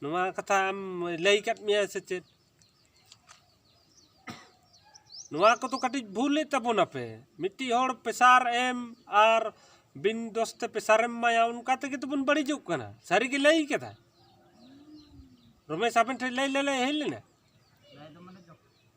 ᱱᱚᱣᱟ ᱠᱟᱛᱷᱟ ᱟᱢ ᱞᱟᱹᱭ ᱠᱟᱫ ᱢᱮᱭᱟᱭ ᱥᱮ ᱪᱮᱫ ᱱᱚᱣᱟ ᱠᱚᱫᱚ ᱠᱟᱹᱴᱤᱡ ᱵᱷᱩᱞᱮᱫ ᱛᱟᱵᱚᱱᱟᱯᱮ ᱢᱤᱫᱴᱤᱡ ᱦᱚᱲ ᱯᱮᱥᱟᱨ ᱮᱢ ᱟᱨ ᱵᱤᱱ ᱫᱚᱥ ᱛᱮ ᱯᱮᱥᱟᱨᱮᱢ ᱮᱢᱟᱭᱟ ᱚᱱᱠᱟ ᱛᱮᱜᱮ ᱛᱚᱵᱚᱱ ᱵᱟᱹᱲᱤᱡᱚᱜ ᱠᱟᱱᱟ ᱥᱟᱹᱨᱤ ᱜᱮ ᱞᱟᱹᱭ ᱠᱟᱫᱟ ᱨᱚᱢᱮᱥ ᱟᱵᱮᱱ ᱴᱷᱮᱱ ᱞᱟᱹᱭ ᱞᱟᱹᱭ ᱦᱮᱡ ᱞᱮᱱᱟ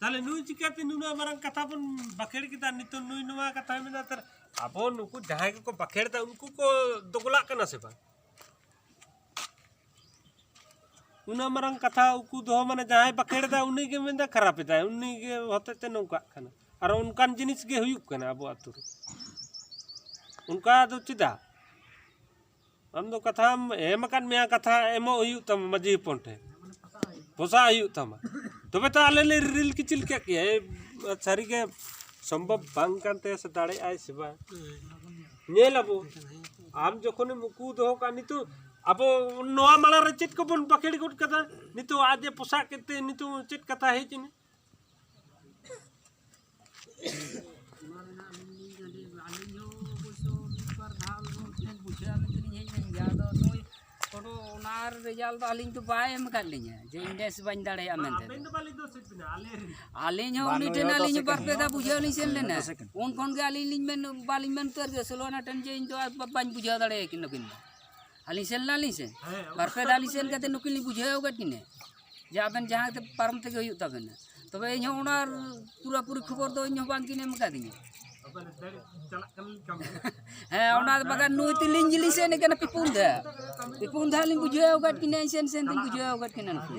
ᱛᱟᱦᱚᱞᱮ ᱱᱩᱭ ᱪᱤᱠᱟᱹᱛᱮ ᱱᱩᱱᱟᱹᱜ ᱢᱟᱨᱟᱝ ᱠᱟᱛᱷᱟ ᱵᱚᱱ ᱵᱟᱠᱷᱮᱲ ᱠᱮᱫᱟ ᱱᱤᱛᱚᱜ ᱱᱩᱭ ᱱᱚᱣᱟ ᱠᱟᱛᱷᱟ ᱢᱮᱱᱟ ᱛᱟᱨ ᱟᱵᱚ ᱱᱩᱠᱩ ᱡᱟᱦᱟᱸᱭ ᱠᱚᱠᱚ ᱵᱟᱠᱷᱮᱲ ᱮᱫᱟ ᱩᱱᱠᱩ ᱠᱚ ᱫᱚᱜᱚᱞᱟᱜ ᱠᱟᱱᱟ ᱥᱮ ᱵᱟᱝ ᱩᱱᱟᱹᱜ ᱢᱟᱨᱟᱝ ᱠᱟᱛᱷᱟ ᱩᱠᱩ ᱫᱚᱦᱚ ᱢᱟᱱᱮ ᱡᱟᱦᱟᱸᱭ ᱵᱟᱠᱷᱮᱲ ᱮᱫᱟ ᱩᱱᱤ ᱜᱮ ᱢᱮᱱᱫᱟ ᱠᱷᱟᱨᱟᱯ ᱮᱫᱟᱭ ᱩᱱᱤ ᱜᱮ ᱦᱚᱛᱮᱡ ᱛᱮ ᱱᱚᱝᱠᱟᱜ ᱠᱟᱱᱟ ᱟᱨ ᱚᱱᱠᱟᱱ ᱡᱤᱱᱤᱥ ᱜᱮ ᱦᱩᱭᱩᱜ ᱠᱟᱱᱟ ᱟᱵᱚ ᱟᱛᱳ ᱨᱮ ᱚᱱᱠᱟ ᱫᱚ ᱪᱮᱫᱟᱜ ᱟᱢ ᱫᱚ ᱠᱟᱛᱷᱟᱢ ᱮᱢ ᱟᱠᱟᱫ ᱢᱮᱭᱟ ᱠᱟᱛᱷᱟ ᱮᱢᱚᱜ ᱦᱩᱭᱩᱜ ᱛᱟᱢᱟ ᱢᱟᱹᱡᱷᱤ ᱦᱚᱯᱚᱱ ᱴᱷᱮᱱ ᱯᱚᱥᱟᱜ ᱦᱩᱭᱩᱜ ᱛᱟᱢᱟ ᱛᱚᱵᱮ ᱛᱚ ᱟᱞᱮ ᱞᱮ ᱨᱤᱞ ᱠᱤᱪᱤᱞ ᱠᱮᱫ ᱯᱮᱭᱟ ᱥᱟᱹᱨᱤ ᱜᱮ ᱥᱚᱢᱵᱷᱚᱵ ᱵᱟᱝ ᱠᱟᱱ ᱛᱟᱭᱟ ᱥᱮ ᱫᱟᱲᱮᱭᱟᱜ ᱟᱭ ᱥᱮ ᱵᱟᱝ ᱧᱮᱞ ᱟᱵᱚ ᱟᱢ ᱡᱚᱠᱷᱚᱱᱮᱢ ᱩᱠᱩ ᱫᱚᱦᱚ ᱠᱟᱜ ᱱᱤᱛᱚᱜ ᱟᱵᱚ ᱱᱚᱣᱟ ᱢᱟᱲᱟᱝ ᱨᱮ ᱪᱮᱫ ᱠᱚᱵᱚᱱ ᱵᱟᱠᱷᱮᱲ ᱜᱚᱫ ᱠᱟᱫᱟ ᱱᱤᱛᱚᱜ ᱟᱡ ᱮ ᱯᱚᱥᱟᱜ ᱠᱮᱫ ᱛᱮ ᱱᱤᱛᱚᱜ ᱪᱮᱫ ᱠᱟᱛᱷᱟ ᱦᱮᱡ ᱮᱱᱟ ᱨᱮᱡᱟᱞᱴ ᱫᱚ ᱟᱹᱞᱤᱧ ᱫᱚ ᱵᱟᱭ ᱮᱢ ᱟᱠᱟᱫ ᱞᱤᱧᱟ ᱡᱮ ᱤᱱᱰᱮᱥ ᱵᱟᱹᱧ ᱫᱟᱲᱮᱭᱟᱜᱼᱟ ᱢᱮᱱᱛᱮ ᱟᱹᱞᱤᱧ ᱦᱚᱸ ᱩᱱᱤ ᱴᱷᱮᱱ ᱟᱹᱞᱤᱧ ᱵᱟᱨ ᱯᱮ ᱫᱷᱟᱣ ᱵᱩᱡᱷᱟᱹᱣ ᱞᱤᱧ ᱥᱮᱱ ᱞᱮᱱᱟ ᱩᱱ ᱠᱷᱚᱱ ᱜᱮ ᱟᱹᱞᱤᱧ ᱞᱤᱧ ᱢᱮᱱ ᱵᱟᱹᱞᱤᱧ ᱢᱮᱱ ᱩᱛᱟᱹᱨ ᱜᱮ ᱥᱳᱞᱳᱱᱟ ᱴᱷᱮᱱ ᱡᱮ ᱤᱧ ᱫᱚ ᱵᱟᱹᱧ ᱵᱩᱡᱷᱟᱹᱣ ᱫᱟᱲᱮᱭᱟᱠᱤᱱ ᱱᱩᱠᱤᱱ ᱫᱚ ᱟᱹᱞᱤᱧ ᱥᱮᱱ ᱞᱮᱱᱟᱞᱤᱧ ᱥᱮ ᱵᱟᱨ ᱯᱮ ᱫᱷᱟᱣ ᱞᱤᱧ ᱥᱮᱱ ᱠᱟᱛᱮ ᱱᱩᱠᱤᱱ ᱞᱤᱧ ᱵᱩᱡᱷᱟᱹᱣ ᱟᱠᱟᱫ ᱠᱤᱱᱟᱹ ᱡᱮ ᱟᱵᱮᱱ ᱡᱟᱦᱟᱸ ᱛᱮ ᱯᱟᱨᱚᱢ ᱛᱮᱜᱮ ᱦᱩᱭᱩᱜ ᱛᱟᱵᱮᱱᱟ ᱛᱚᱵᱮ ᱤᱧ ᱦᱚᱸ ᱚᱱᱟ ᱯᱩᱨᱟᱹ ᱯᱩᱨᱤ ᱠᱷᱚᱵᱚᱨ ᱫᱚ ᱤᱧ ᱦᱚᱸ ᱵᱟᱝ ᱠᱤᱱ ᱮᱢ ᱠᱟᱫᱤᱧᱟ ᱦᱮᱸ ᱚᱱᱟ ᱵᱟᱠᱷᱟᱱ ᱱᱩᱭ ᱛᱤᱞᱤᱧ ᱡᱤᱞᱤᱧ ᱥᱮᱱ ᱠᱟᱱᱟ ᱯᱤᱯᱩᱱ ᱫᱷᱟ ᱯᱤᱯᱩᱱ ᱫᱷᱟ ᱞᱤᱧ ᱵᱩᱡᱷᱟᱹᱣ ᱟᱠᱟᱫ ᱠᱤᱱᱟᱹ ᱥᱮᱱ ᱥᱮᱱ ᱛᱤᱧ ᱵᱩᱡᱷᱟᱹᱣ ᱟᱠᱟᱫ ᱠᱤᱱᱟᱹ ᱱᱩᱠᱤᱱ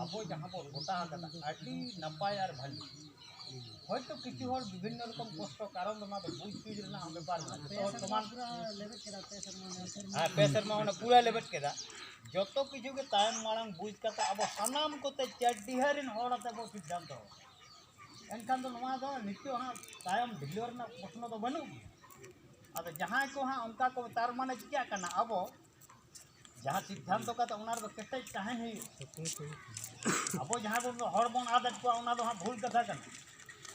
ᱟᱵᱚ ᱡᱟᱦᱟᱸ ᱵᱚᱱ ᱜᱚᱴᱟ ᱟᱠᱟᱫᱟ ᱟᱹᱰᱤ ᱱᱟᱯᱟᱭ ᱟᱨ ᱵᱷᱟᱹᱞᱤ ᱦᱚᱭᱛᱳ ᱠᱤᱪᱷᱩ ᱦᱚᱲ ᱵᱤᱵᱷᱤᱱᱱᱚ ᱨᱚᱠᱚᱢ ᱠᱚᱥᱴᱚ ᱠᱟᱨᱚᱱ ᱚᱱᱟ ᱫᱚ ᱵᱩᱡᱽ ᱥᱩᱡᱽ ᱨᱮᱱᱟᱜ ᱦᱚᱸ ᱵᱮᱯᱟᱨ ᱢᱮᱱᱟᱜᱼᱟ ᱡᱚᱛᱚ ᱦᱚᱲ ᱥᱚᱢᱟᱱ ᱦᱮᱸ ᱯᱮ ᱥᱮᱨᱢᱟ ᱚᱱᱟ ᱯᱩᱨᱟᱹ ᱞᱮᱵᱮᱫ ᱠᱮᱫᱟ ᱡᱚᱛᱚ ᱠᱤᱪᱷᱩ ᱜᱮ ᱛᱟᱭᱚᱢ ᱢᱟᱲᱟᱝ ᱵᱩᱡᱽ ᱠᱟᱛᱮ ᱟᱵᱚ ᱥᱟᱱᱟᱢ ᱠᱚᱛᱮ ᱪᱟᱹᱰᱤᱦᱟᱹ ᱨᱮᱱ ᱦᱚᱲ ᱟᱛᱮ ᱵᱚ ᱥᱤᱫᱽᱫᱷᱟᱱᱛᱚ ᱮᱱᱠᱷᱟᱱ ᱫᱚ ᱱᱚᱣᱟ ᱫᱚ ᱱᱤᱛᱚᱜ ᱦᱟᱸᱜ ᱛᱟᱭᱚᱢ ᱰᱷᱤᱞᱟᱹᱣ ᱨᱮᱱᱟᱜ ᱯᱨᱚᱥᱱᱚ ᱫᱚ ᱵᱟᱹᱱᱩᱜ ᱜᱮᱭᱟ ᱟᱫᱚ ᱡᱟᱦᱟᱸᱭ ᱠᱚ ᱦᱟᱸᱜ ᱚᱱᱠᱟ ᱠᱚ ᱛᱟᱨ ᱢᱟᱱᱮ ᱪᱤᱠᱟᱹᱜ ᱠᱟᱱᱟ ᱟᱵᱚ ᱡᱟᱦᱟᱸ ᱥᱤᱫᱽᱫᱷᱟᱱᱛᱚ ᱠᱟᱛᱮ ᱚᱱᱟ ᱨᱮᱫᱚ ᱠᱮᱴᱮᱡ ᱛᱟᱦᱮᱱ ᱦᱩᱭᱩᱜᱼᱟ ᱟᱵᱚ ᱡᱟᱦᱟᱸ ᱵᱚᱱ ᱦᱚᱲ ᱵᱚᱱ ᱟᱫᱮᱫ ᱠᱚᱣᱟ ᱚᱱᱟ ᱫᱚ ᱦᱟᱸᱜ ᱵᱷᱩᱞ ᱠᱟᱛᱷᱟ ᱠᱟᱱᱟ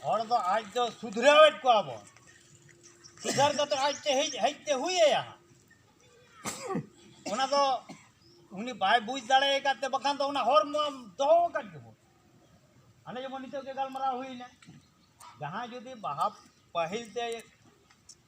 ᱦᱚᱲ ᱫᱚ ᱟᱡ ᱫᱚ ᱥᱩᱫᱷᱨᱟᱹᱣᱮᱫ ᱠᱚᱣᱟ ᱵᱚᱱ ᱥᱩᱫᱷᱟᱹᱨ ᱠᱟᱛᱮ ᱟᱡ ᱛᱮ ᱦᱮᱡ ᱦᱮᱡ ᱛᱮ ᱦᱩᱭ ᱟᱭᱟ ᱚᱱᱟ ᱫᱚ ᱩᱱᱤ ᱵᱟᱭ ᱵᱩᱡᱽ ᱫᱟᱲᱮ ᱟᱠᱟᱫ ᱛᱮ ᱵᱟᱠᱷᱟᱱ ᱫᱚ ᱚᱱᱟ ᱦᱚᱲ ᱢᱟ ᱫᱚᱦᱚ ᱟᱠᱟᱫ ᱜᱮᱵᱚᱱ ᱟᱞᱮ ᱡᱮᱢᱚᱱ ᱱᱤᱛᱚᱜ ᱜᱮ ᱜᱟᱞᱢᱟᱨᱟᱣ ᱦᱩᱭᱱᱟ ᱡᱟᱦᱟᱸᱭ ᱡᱩᱫᱤ ᱵᱟᱦᱟ ᱯᱟᱹᱦᱤᱞ ᱛᱮ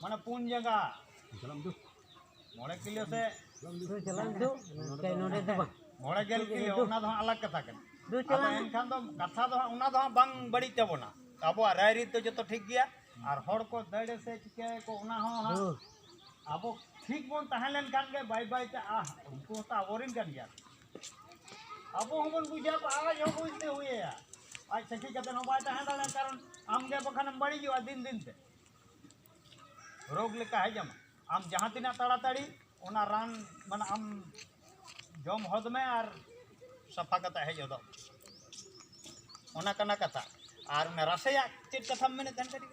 ᱢᱟᱱᱮ ᱯᱩᱱ ᱡᱟᱸᱜᱟ ᱢᱚᱬᱮ ᱠᱤᱞᱳ ᱥᱮ ᱢᱚᱬᱮ ᱜᱮᱞ ᱠᱤᱞᱳ ᱚᱱᱟ ᱫᱚ ᱦᱟᱸᱜ ᱟᱞᱟᱜᱽ ᱠᱟᱛᱷᱟ ᱠᱟᱱᱟ ᱟᱫᱚ ᱮᱱᱠᱷᱟᱱ ᱫᱚ ᱠᱟᱛᱷᱟ ᱫᱚ ᱦᱟᱸᱜ ᱚᱱᱟ ᱫᱚ ᱦᱟᱸᱜ ᱵᱟᱝ ᱵᱟᱹᱲᱤᱡ ᱛᱟᱵᱚᱱᱟ ᱟᱵᱚᱣᱟᱜ ᱨᱟᱭᱨᱤᱛ ᱫᱚ ᱡᱚᱛᱚ ᱴᱷᱤᱠ ᱜᱮᱭᱟ ᱟᱨ ᱦᱚᱲ ᱠᱚ ᱫᱟᱹᱲᱮ ᱥᱮ ᱪᱤᱠᱟᱹᱭᱟᱠᱚ ᱚᱱᱟ ᱦᱚᱸ ᱦᱟᱸᱜ ᱟᱵᱚ ᱴᱷᱤᱠ ᱵᱚᱱ ᱛᱟᱦᱮᱸ ᱞᱮᱱᱠᱷᱟᱱ ᱜᱮ ᱵᱟᱭ ᱵᱟᱭ ᱛᱮ ᱟᱦ ᱩᱱᱠᱩ ᱦᱚᱸᱛᱚ ᱟᱵᱚᱨᱮᱱ ᱠᱟᱱ ᱜᱮᱭᱟ ᱟᱵᱚ ᱦᱚᱸᱵᱚᱱ ᱵᱩᱡᱟ ᱟᱡ ᱦᱚᱸ ᱵᱩᱡᱽᱛᱮ ᱦᱩᱭᱮᱭᱟ ᱟᱡ ᱥᱟᱹᱠᱷᱤ ᱠᱟᱛᱮ ᱦᱚᱸ ᱵᱟᱭ ᱛᱟᱦᱮᱸ ᱫᱟᱲᱮᱭᱟᱜᱼᱟ ᱠᱟᱨᱚᱱ ᱟᱢᱜᱮ ᱵᱟᱠᱷᱟᱱᱮᱢ ᱵᱟᱹᱲᱤᱡᱚᱜᱼᱟ ᱫᱤᱱ ᱫᱤᱱ ᱛᱮ ᱨᱳᱜᱽ ᱞᱮᱠᱟ ᱦᱮᱡ ᱟᱢᱟ ᱟᱢ ᱡᱟᱦᱟᱸ ᱛᱤᱱᱟᱹᱜ ᱛᱟᱲᱟᱛᱟᱲᱤ ᱚᱱᱟ ᱨᱟᱱ ᱢᱟᱱᱮ ᱟᱢ ᱡᱚᱢ ᱦᱚᱫ ᱢᱮ ᱟᱨ ᱥᱟᱯᱷᱟ ᱠᱟᱛᱮ ᱦᱮᱡ ᱦᱚᱫᱚᱜ ᱚᱱᱟ ᱠᱟᱱᱟ ᱠᱟᱛᱷᱟ ᱟᱨ ᱨᱟᱥᱮᱭᱟᱜ ᱪᱮᱫ ᱠᱟᱛᱷᱟᱢ ᱢᱮᱱᱮᱫ ᱛᱟᱦᱮᱸ ᱠᱟᱹᱴᱤᱡ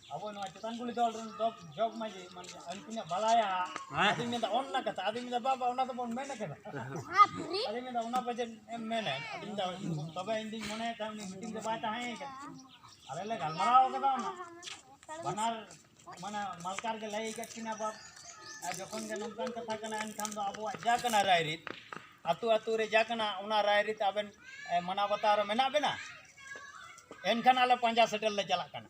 ᱟᱵᱚ ᱱᱚᱣᱟ ᱪᱮᱛᱟᱱ ᱠᱩᱞᱤ ᱫᱚᱞ ᱨᱮᱱ ᱡᱚᱜᱽ ᱡᱚᱜᱽ ᱢᱟᱺᱡᱷᱤ ᱢᱟᱱᱮ ᱩᱱᱠᱤᱱᱟᱜ ᱵᱟᱲᱟᱭᱟ ᱟᱫᱚᱧ ᱢᱮᱱᱫᱟ ᱚᱱᱟ ᱠᱟᱛᱷᱟ ᱟᱫᱚᱧ ᱢᱮᱱᱫᱟ ᱵᱟᱵᱟ ᱚᱱᱟ ᱫᱚᱵᱚᱱ ᱢᱮᱱ ᱠᱟᱫᱟ ᱟᱫᱚᱧ ᱢᱮᱱᱫᱟ ᱚᱱᱟ ᱵᱟᱡᱮᱴ ᱮᱢ ᱢᱮᱱᱟ ᱟᱫᱚᱧ ᱢᱮᱱᱫᱟ ᱛᱚᱵᱮ ᱤᱧ ᱫᱩᱧ ᱢᱚᱱᱮᱭᱮᱫ ᱛᱟᱦᱮᱸᱫ ᱩᱱᱤ ᱢᱤᱴᱤᱝ ᱨᱮ ᱵᱟᱭ ᱛᱟᱦᱮᱸ ᱠᱟᱱᱟ ᱟᱞᱮ ᱞᱮ ᱜᱟᱞᱢᱟᱨᱟᱣ ᱠᱟᱫᱟ ᱚᱱᱟ ᱵᱟᱱᱟᱨ ᱢᱟᱱᱮ ᱢᱟᱞᱠᱟᱨ ᱜᱮ ᱞᱟᱹᱭ ᱠᱟᱫ ᱠᱤᱱᱟ ᱵᱟᱯ ᱟᱨ ᱡᱚᱠᱷᱚᱱ ᱜᱮ ᱱᱚᱝᱠᱟᱱ ᱠᱟᱛᱷᱟ ᱠᱟᱱᱟ ᱮᱱᱠᱷᱟᱱ ᱫᱚ ᱟᱵᱚᱣᱟᱜ ᱡᱟ ᱠᱟᱱᱟ ᱨᱟᱭᱨᱤᱛ ᱟᱛᱳ ᱟᱛᱳ ᱨᱮ ᱡᱟ ᱠᱟᱱᱟ ᱚᱱᱟ ᱨᱟᱭᱨᱤᱛ ᱟᱵᱮᱱ ᱢᱟᱱᱟᱣ ᱵᱟᱛᱟᱣ ᱨᱮ ᱢᱮᱱᱟᱜ ᱵᱮᱱᱟ ᱮᱱᱠᱷᱟᱱ ᱟᱞᱮ ᱯᱟᱸᱡᱟ ᱥᱮᱴᱮᱨ ᱞᱮ ᱪᱟᱞᱟᱜ ᱠᱟᱱᱟ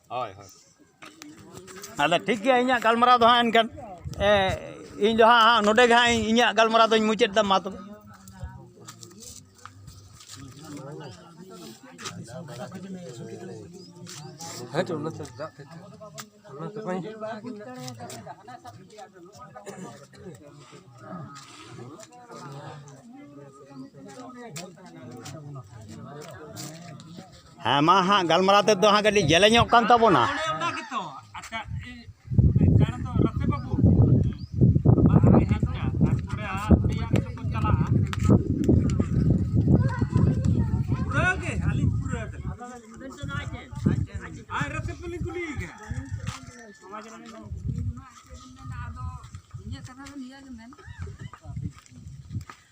ᱦᱳᱭ ᱦᱳᱭ ᱟᱫᱚ ᱴᱷᱤᱠ ᱜᱮᱭᱟ ᱤᱧᱟᱹᱜ ᱜᱟᱞᱢᱟᱨᱟᱣ ᱫᱚ ᱦᱟᱸᱜ ᱮᱱᱠᱷᱟᱱ ᱤᱧ ᱫᱚ ᱦᱟᱸᱜ ᱱᱚᱰᱮ ᱜᱮ ᱦᱟᱸᱜ ᱤᱧᱟᱹᱜ ᱜᱟᱞᱢᱟᱨᱟᱣ ᱫᱚᱧ ᱢᱩᱪᱟᱹᱫ ᱮᱫᱟ ᱢᱟ ᱛᱚᱵᱮ ᱦᱮᱸ ᱪᱚ ᱚᱱᱟᱛᱮ ᱫᱟᱜ ᱛᱮ ᱚᱱᱟᱛᱮ ᱵᱟᱹᱧ ᱦᱮᱸ ᱢᱟ ᱦᱟᱸᱜ ᱜᱟᱞᱢᱟᱨᱟᱣ ᱛᱮᱫᱚ ᱦᱟᱸᱜ ᱠᱟᱹᱴᱤᱡ ᱡᱮᱞᱮᱧᱚᱜ ᱠᱟᱱ ᱛᱟᱵᱚᱱᱟ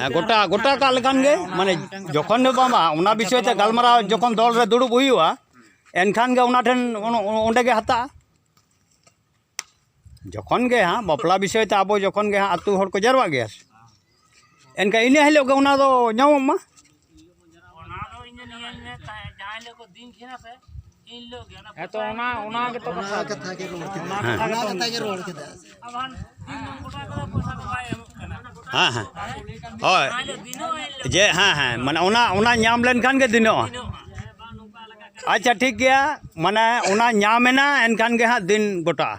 ᱦᱮᱸ ᱜᱚᱴᱟ ᱜᱚᱴᱟ ᱠᱟᱜ ᱞᱮᱠᱷᱟᱱ ᱜᱮ ᱢᱟᱱᱮ ᱡᱚᱠᱷᱚᱱ ᱫᱚ ᱵᱟᱝ ᱚᱱᱟ ᱵᱤᱥᱚᱭ ᱛᱮ ᱜᱟᱞᱢᱟᱨᱟᱣ ᱡᱚᱠᱷᱚᱱ ᱫᱚᱞ ᱨᱮ ᱫᱩᱲᱩᱵ ᱦᱩᱭᱩᱜᱼᱟ ᱮᱱᱠᱷᱟᱱ ᱜᱮ ᱚᱱᱟ ᱴᱷᱮᱱ ᱚᱸᱰᱮ ᱜᱮ ᱦᱟᱛᱟᱜᱼᱟ ᱡᱚᱠᱷᱚᱱ ᱜᱮ ᱦᱟᱸᱜ ᱵᱟᱯᱞᱟ ᱵᱤᱥᱚᱭ ᱛᱮ ᱟᱵᱚ ᱡᱚᱠᱷᱚᱱ ᱜᱮ ᱦᱟᱸᱜ ᱟᱛᱳ ᱦᱚᱲ ᱠᱚ ᱡᱟᱣᱨᱟᱜ ᱜᱮᱭᱟ ᱮᱱᱠᱷᱟᱱ ᱤᱱᱟᱹ ᱦᱤᱞᱳᱜ ᱜᱮ ᱚᱱᱟ ᱫᱚ ᱧᱟᱢᱚᱜ ᱢᱟ ᱦᱮᱸᱛᱚ ᱚᱱᱟ ᱚᱱᱟ ᱜᱮᱛᱚ ᱠᱟᱛᱷᱟ ᱠᱟᱛᱷᱟ ᱜᱮ ᱨᱚᱲ ᱠᱮᱫᱟ ᱚᱱᱟ ᱠᱟᱛᱷᱟ ᱜᱮ ᱨᱚᱲ ᱠᱮᱫᱟ ᱦᱮᱸ ᱦᱮᱸ ᱦᱳᱭ ᱡᱮ ᱦᱮᱸ ᱦᱮᱸ ᱢᱟᱱᱮ ᱚᱱᱟ ᱚᱱᱟ ᱧᱟᱢ ᱞᱮᱱᱠᱷᱟᱱ ᱜᱮ ᱫᱤᱱᱚᱜᱼᱟ ᱟᱪᱪᱷᱟ ᱴᱷᱤᱠ ᱜᱮᱭᱟ ᱢᱟᱱᱮ ᱚᱱᱟ ᱧᱟᱢ ᱮᱱᱟ ᱮᱱᱠᱷᱟᱱ ᱜᱮ ᱦᱟᱸᱜ ᱫᱤᱱ ᱜᱚᱴᱟᱜᱼᱟ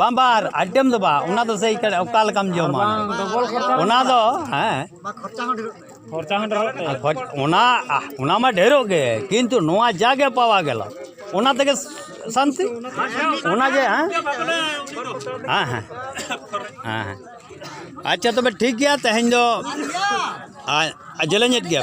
ᱵᱟᱝ ᱵᱟᱝ ᱟᱭᱴᱮᱢ ᱫᱚ ᱵᱟᱝ ᱚᱱᱟ ᱫᱚ ᱥᱮᱭ ᱚᱠᱟ ᱞᱮᱠᱟᱢ ᱡᱚᱢᱟ ᱚᱱᱟ ᱫᱚ ᱦᱮᱸ ᱚᱱᱟ ᱚᱱᱟ ᱢᱟ ᱰᱷᱮᱨᱚᱜ ᱜᱮ ᱠᱤᱱᱛᱩ ᱱᱚᱣᱟ ᱡᱟᱜᱮ ᱯᱟᱣᱟ ᱜᱮᱞ ᱚᱱᱟ ᱛᱮᱜᱮ ᱥᱟᱱᱛᱤ ᱚᱱᱟᱜᱮ ᱦᱮᱸ ᱦᱮᱸ ᱦᱮᱸ ᱦᱮᱸ ᱟᱪᱪᱷᱟ ᱛᱚᱵᱮ ᱴᱷᱤᱠ ᱜᱮᱭᱟ ᱛᱮᱦᱮᱧ ᱫᱚ ᱡᱮᱞᱮᱧᱮᱫ ᱜᱮᱭᱟ